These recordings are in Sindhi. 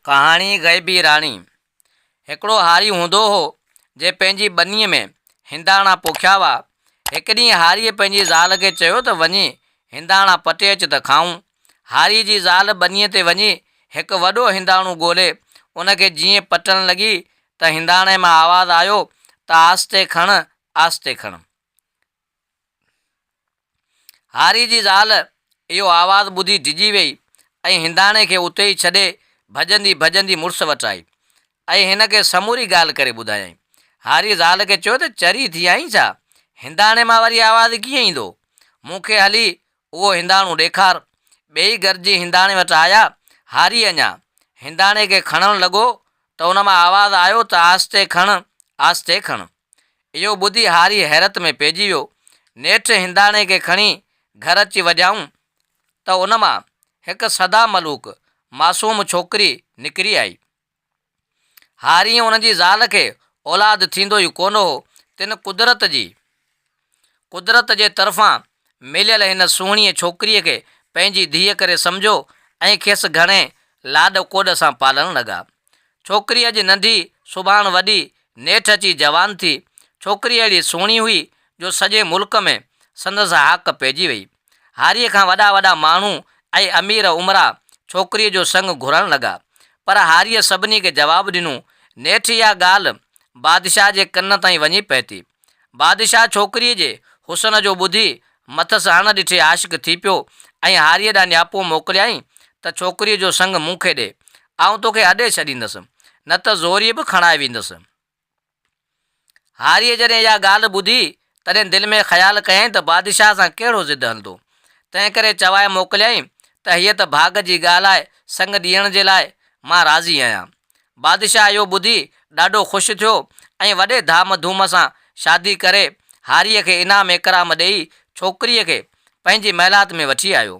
ڪهاڻي غيبي راڻي، هڪڙو هاري هوندو هو، جنهن پنهنجي ٻنيء ۾ هنداڻا پوکيا هئا. هڪ ڏينهن هاريء پنهنجي زال کي چيو ته وڃي هنداڻا پٽي اچ ته کائون. هاريء جي زال ٻنيء تي وڃي هڪ وڏو هنداڻو ڳولي، ان کي جيئن پٽڻ لڳي ته هنداڻي مان آواز آيو ته آهستي کڻ، آهستي کڻ. هاري جي زال اهو آواز ٻڌي ڊڄي ويئي ۽ هنداڻي کي اتي ئي ڇڏي ڀڄندي ڀڄندي مڙس وٽ آئي ۽ هن کي سموري ڳالهه ڪري ٻڌايائين. هاري زال کي چيو ته چري ٿي آئين ڇا؟ هنداڻي مان وري آواز ڪيئن ايندو؟ مون کي هلي اهو هنداڻو ڏيکار. ٻيئي گڏجي هنداڻي وٽ آيا. هاري اڃا هنداڻي کي کڻڻ لڳو ته ان مان آواز آيو ته آهستي کڻ، آهستي کڻ. اهو ٻڌي هاري حيرت ۾ پئجي ويو. نيٺ هنداڻي کي کڻي گهر اچي وڄائون ته ان مان هڪ سدا ملوڪ معصوم ڇوڪري نڪري آئي. هاريء ان جي زال کي اولاد ٿيندو ئي ڪونه هو، تن قدرت جي، قدرت جي طرفان مليل هن سهڻيء ڇوڪريء کي پنهنجي ڌيء ڪري سمجهيو ۽ کيس گهڻي لاڏ ڪوڏ سان پالڻ لڳا. ڇوڪري اڄ ننڍي، سڀاڻ وڏي، نيٺ اچي جوان ٿي. ڇوڪري اهڙي سهڻي هئي، جو سڄي ملڪ ۾ سندس هاڪ پئجي ويئي. هاريء کان وڏا وڏا ماڻهو ۽ امير امراء ڇوڪريء جو سڱ گهرڻ لڳا، پر هاريء سڀني کي جواب ڏنو، نيٺ اها ڳالهه بادشاهه جي ڪن تائين وڃي پهتي. بادشاهه ڇوڪريء جي حسن جو ٻڌي مٿس اڻ ڏٺي عاشق ٿي پيو ۽ هاريء ڏانهن نياپو موڪليائين ته ڇوڪريء جو سڱ مون کي ڏي، آئون توکي اڏي ڇڏيندس، نه ته زوريء به کڻائي ويندس. هاريء جڏهن اها ڳالهه ٻڌي، تڏهن دل ۾ خيال ڪيائين ته بادشاهه سان ڪهڙو ضد هلندو، تنهنڪري چوائي موڪليائين ته هيء ته ڀاڳ جي ڳالهه آهي، سڱ ڏيڻ جي لاء مان راضي آهيان. بادشاهه اهو ٻڌي ڏاڍو خوش ٿيو ۽ وڏي ڌام ڌوم سان شادي ڪري، هاريء کي انعام اڪرام ڏيئي، ڇوڪريء کي پنهنجي محلات ۾ وٺي آيو.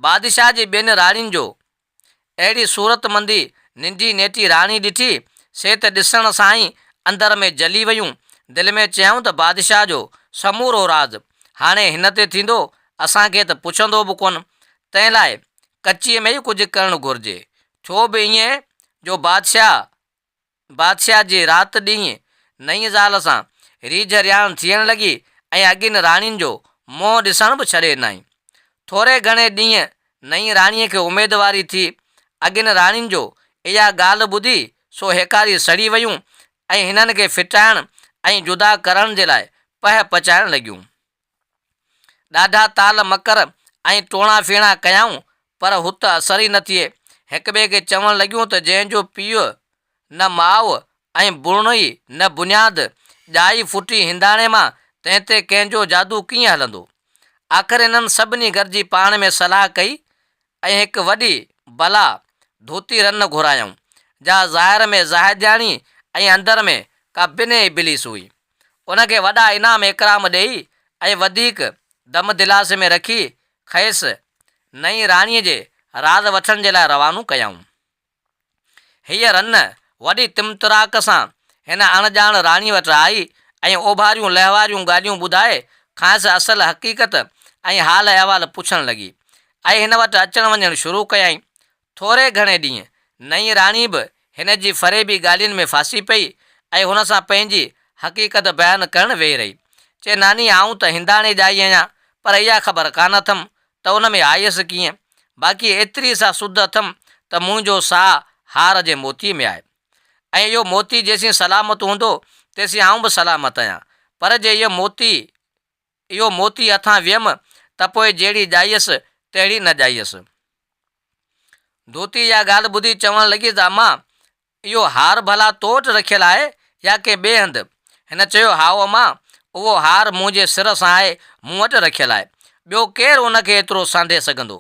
بادشاهه جي ٻين راڻين جو اهڙي صورت مندي ننڊي نيٽي راڻي ڏٺي، سي ته ڏسڻ سان ئي اندر ۾ جلي ويون، دل ۾ چيائون ته بادشاهه جو سمورو راز هاڻي هن تي ٿيندو، اسان کي ته پڇندو به ڪونه، تنهن لاء ڪچيء ۾ ئي ڪجهه ڪرڻ گهرجي، ٿيو به ائين جو بادشاهه بادشاهه جي رات ڏينهن نئين زال سان ريجهه رياڻ ٿيڻ لڳي ۽ اڳين راڻين جو منهن ڏسڻ به ڇڏي ڏنائين. ٿوري گهڻي ڏينهن نئين راڻيء کي اميدواري ٿي. اڳين راڻين جو اها ڳالهه ٻڌي سو هيڪاري سڙي ويون ۽ هنن کي ڦٽائڻ ۽ جدا ڪرڻ جي لاء پهه پچائڻ لڳيون. ڏاڍا تال مڪر ۽ ٽوڻا ڦيڻا ڪيائون، پر هت اثر ئي نه ٿئي. هڪٻئي کي چوڻ لڳيون ته جنهن جو پيء نه ماء ۽ بڻڻ ئي نه بنياد، ڄائي ڦٽي هنداڻي مان، تنهن تي ڪنهن جو جادو ڪيئن هلندو؟ آخر انهن سڀني گڏجي پاڻ ۾ صلاح ڪئي ۽ هڪ وڏي بلا ڌوتي رن گهرايائون، جا ظاهر ۾ زاهدياڻي ۽ اندر ۾ ڪا بنهه ابليس هئي. ان کي وڏا انعام اڪرام ڏيئي ۽ وڌيڪ دم دلاسي ۾ رکي کيس نئين راڻيء جي راز وٺڻ جي لاء روانو ڪيائون. هيء رن وڏي طمطراق سان هن اڻڄاڻ راڻي وٽ آئي ۽ اوڀاريون لهواريون ڳالهيون ٻڌائي کانئس اصل حقيقت ۽ حال احوال پڇڻ لڳي ۽ هن وٽ اچڻ وڃڻ شروع ڪيائين. ٿوري گهڻي ڏينهن نئين راڻي به هن جي فريبي ڳالهين ۾ ڦاسي پئي ۽ هن سان پنهنجي حقيقت بيان ڪرڻ ويهي رهي. چي ناني آئون ته هنداڻي ڄائي آهيان پر اها خبر ڪانه اٿم ته ان ۾ آيس ڪيئن؟ باقي ايتري سا سڌ اٿم ته منهنجو ساهه هار جي موتيء ۾ آهي ۽ اهو موتي جيسين سلامت هوندو تيسين آئون به سلامت آهيان پر جي اهو موتي اهو موتي هٿان ويم ته پوء جهڙي ڄائيس تهڙي نه ڄائيس. ڌوتي اها ڳالهه ٻڌي چوڻ لڳي ته امان اهو هار ڀلا تو وٽ رکيل آهي يا ڪنهن ٻئي هنڌ؟ هن چيو، هائو امان، اهو هار منهنجي سر سان آهي، مون وٽ رکيل آهي. ٻيو ڪير ان کي ايترو سانڍي سگهندو؟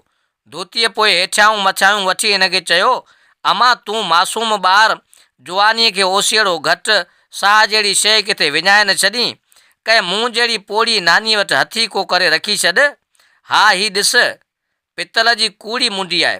ڌوتيء پوء هيٺيائون مٿيائون وٺي هن کي چيو، امان، تون معصوم ٻار، جوانيء کي اوسيئڙو گهٽ، ساهه جهڙي شيء ڪٿي وڃائي نه ڇڏين؟ ڪنهن مون جهڙي پوڙهي نانيء وٽ هٿي ڪو ڪري رکي ڇڏ. ها هي ڏس، پتل جي ڪوڙي منڊي آهي.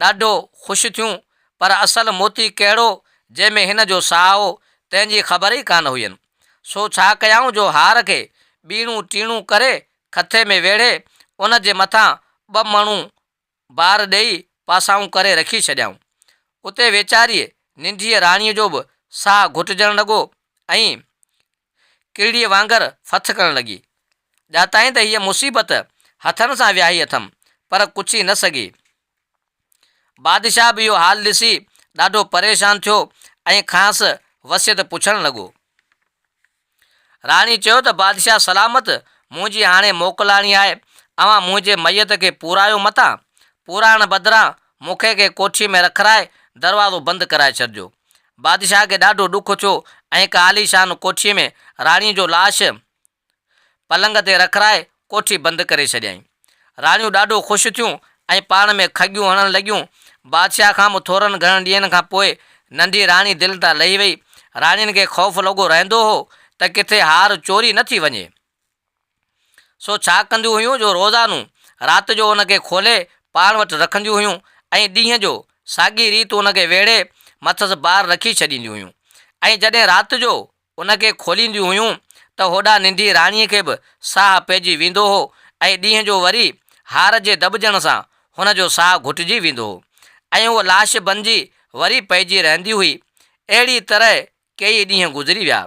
ڏاڍو خوش ٿيون، پر اصل موتي ڪهڙو جنهن ۾ هن جو ساهه هو، تنهن جي خبر ئي ڪانه هئين. سو ڇا ڪيائون جو هار کي ٻيڻون ٽيڻون ڪري کٿي ۾ ويڙهي، ان جي مٿان ٻه مڻون بار ڏيئي پاسائون ڪري رکي ڇڏيائون. اتي ويچاريء ننڍيء راڻيء جو به ساهه گهٽجڻ لڳو ۽ ڪيڙيء وانگر ڦٿ ڪرڻ لڳي. ڄاتائين ته هيء مصيبت هٿن سان وياهي اٿم، پر ڪڇي نه سگهي. بادشاهه به اهو حال ڏسي ڏاڍو پريشان ٿيو ۽ کانئس وصيت پڇڻ لڳو. راڻي چيو ته بادشاهه سلامت منهنجي هاڻي موڪلاڻي آهي، اوهان منهنجي ميت کي پورايو متان، پورائڻ بدران مونکي ڪنهن ڪوٺيء ۾ رکرائي دروازو بند ڪرائي ڇڏجو. بادشاهه کي ڏاڍو ڏک ٿيو ۽ هڪ عاليشان ڪوٺيء ۾ راڻيء جو لاش پلنگ تي رکرائي ڪوٺي بند ڪري ڇڏيائين. راڻيون ڏاڍو خوش ٿيون ۽ پاڻ ۾ کڳيون هڻڻ لڳيون. بادشاهه کان به ٿورن گهڻن ڏينهن کان پوء ننڍي راڻي دل تان لهي وئي. راڻين کي خوف لڳو رهندو هو ته ڪٿي هار چوري نه ٿي وڃي. سو ڇا ڪنديون هيون جو روزانو رات جو ان کي کولي پاڻ وٽ رکنديون هيون ۽ ڏينهن جو ساڳي ريت ان کي ويڙهي مٿس بار رکي ڇڏينديون هيون ۽ جڏهن رات جو ان کي کولينديون هيون ته هوڏانهن ننڍي راڻيء کي به ساهه پئجي ويندو هو ۽ ڏينهن جو وري هار جي دٻجڻ سان هن جو ساهه گهٽجي ويندو هو ۽ هوء لاش بنجي وري پئجي رهندي هئي اهڙيء طرح ڪيئي ڏينهن گذري ويا.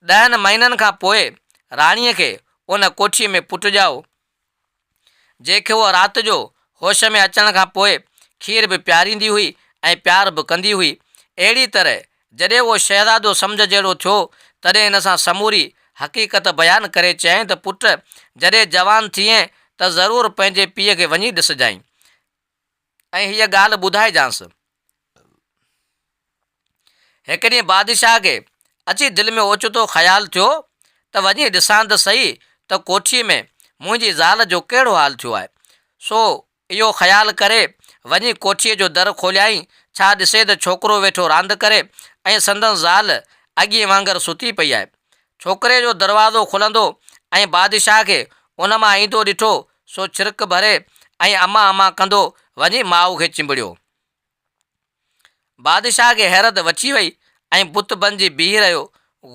ڏهن مهينن کان پوء راڻيء کي ان ڪوٺيء ۾ پٽ ڄائو، جنهن کي هوء رات جو هوش ۾ اچڻ کان پوء کير به پياريندي هئي ۽ پيار به ڪندي هئي. اهڙيء طرح جڏهن اهو شهزادو سمجهه جهڙو ٿيو، تڏهن هن سان سموري حقيقت بيان ڪري چيائين ته پٽ! جڏهن جوان ٿئين ته ضرور پنهنجي پيء کي وڃي ڏسجانء. ۽ هيء ڳالهه ٻڌائجانس. هڪ ڏينهن بادشاهه کي اچي دل ۾ اوچتو خيال ٿيو ته وڃي ڏسان ته سهي ته ڪوٺيء ۾ منهنجي زال جو ڪهڙو حال ٿيو آهي. سو اهو خيال ڪري وڃي ڪوٺيء جو در کوليائين، ڇا ڏسي ته ڇوڪرو ويٺو راند ڪري ۽ سندن زال اڳيئي وانگر ستي پئي آهي. ڇوڪري جو دروازو کلندو ۽ بادشاهه کي ان مان ايندو ڏٺو سو ڇرڪ ڀري ۽ اما اما ڪندو وڃي ماء کي چنبڙيو. بادشاهه کي حيرت وڇي وئي ۽ بت بنجي بيهي رهيو.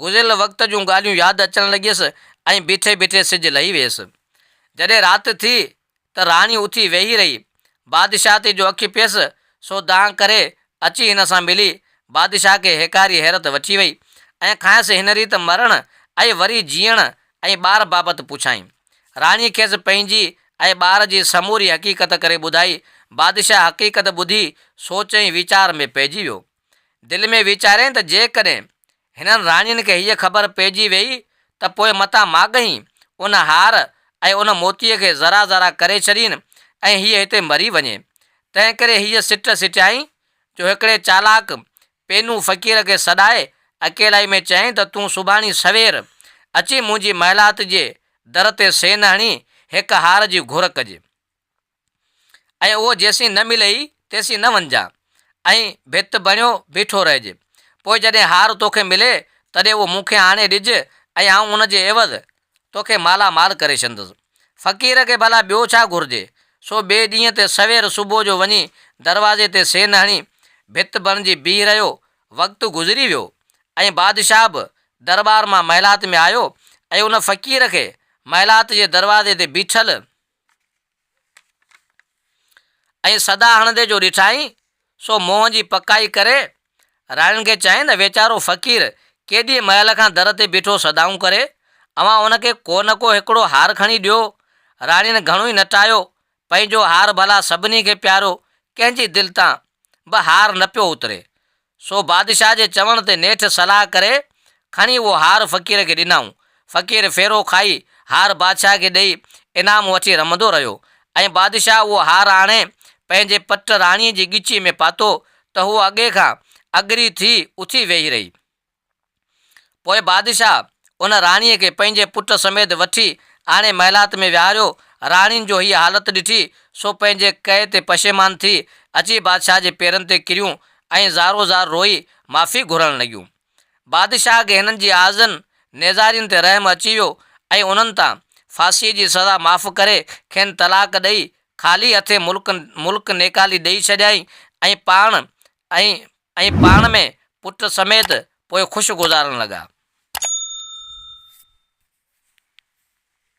گذريل وقت جون ڳالهيون ياد اچڻ لڳيس ۽ بيٺي بيٺي سج لهي ويس. جڏهن رات ٿي ته راڻي اٿي ويهي رهي. بادشاهه تي جو اک پيس سو دانهن ڪري اچي هن سان ملي. بادشاهه کي هيڪاري حيرت وٺي وئي ۽ کانئس هن ريت مرڻ ۽ وري جيئڻ ۽ ٻار بابت پڇيائين. راڻيء کيس پنهنجي ۽ ٻار جي سموري حقيقت ڪري ٻڌائي. بادشاهه حقيقت ٻڌي سوچ ۽ ويچار ۾ پئجي ويو. دل ۾ ويچاريائين ته جيڪڏهن هنن راڻين کي هيء خبر پئجي ويئي ته پوء متان ماڳهين ان هار ۽ ان موتيء کي ذرا ذرا ڪري ڇڏين ۽ هيء هتي مري وڃي. تنهنڪري هيء سٽ سٽيائين جو هڪڙي چالاڪ پينو فقير کي سڏائي اڪيلائي ۾ چيائين ته تون سڀاڻي سوير اچي منهنجي محلات جي در تي سين هڻي هڪ هار جي گهر ڪجي ۽ اهو جيسين نه ملئي تيسين نه وڃجان ۽ ڀت بڻيو بيٺو رهجي پوء جڏهن هار توکي ملي تڏهن اهو مون کي آڻي ڏج ۽ آئون ان جي عيوض توکي مالا مال ڪري ڇڏندس. فقير کي ڀلا ٻيو ڇا گهرجي؟ سو ٻئي ڏينهن تي سوير صبح جو وڃي دروازي تي سين هڻي ڀت بڻجي بيهي رهيو. وقت گذري ويو ۽ بادشاهه به درٻار مان محلات ۾ آيو ۽ ان فقير کي محلات جي دروازي تي بيٺل، ائين صدا هڻندي جو ڏٺائين، سو منهن جي پڪائي ڪري، راڻين کي چيائين ته ويچارو فقير ڪيڏي مهل کان در تي بيٺو صدائون ڪري، اوهان ان کي ڪو نه ڪو هڪڙو هار کڻي ڏيو. راڻين گهڻو ئي نٽايو، پنهنجو هار ڀلا سڀني کي پيارو، ڪنهن جي دل تان به هار نه پيو اتري. سو بادشاهه جي چوڻ تي نيٺ صلاح ڪري کڻي اهو هار فقير کي ڏنائون. فقير ڦيرو کائي هار بادشاهه کي ڏئي انعام وٺي رمندو رهيو ۽ بادشاهه اهو هار آڻي پنهنجي پٽ راڻيء جي ڳچيء ۾ پاتو ته هوء اڳي کان اگري ٿي اٿي ويهي رهي. پوء بادشاهه ان راڻيء کي پنهنجي پٽ سميت وٺي آڻي محلات ۾ ويهاريو. راڻين جو هيء حالت ڏٺي، سو پنهنجي ڪئي تي پشيمان ٿي، اچي بادشاهه جي پيرن تي ڪريون ۽ زارو زار روئي معافي گهرڻ لڳيون. بادشاهه کي هنن جي آزن نيزارين تي رحم اچي ويو ۽ انهن تان ڦاسيء جي سزا معاف ڪري، کين طلاق ڏئي، خالي هٿين ملڪ ملڪ نيڪالي ڏئي ڇڏيائين ۽ پاڻ ۽ ۽ پاڻ ۾ پٽ سميت پوء خوش گذارڻ لڳا.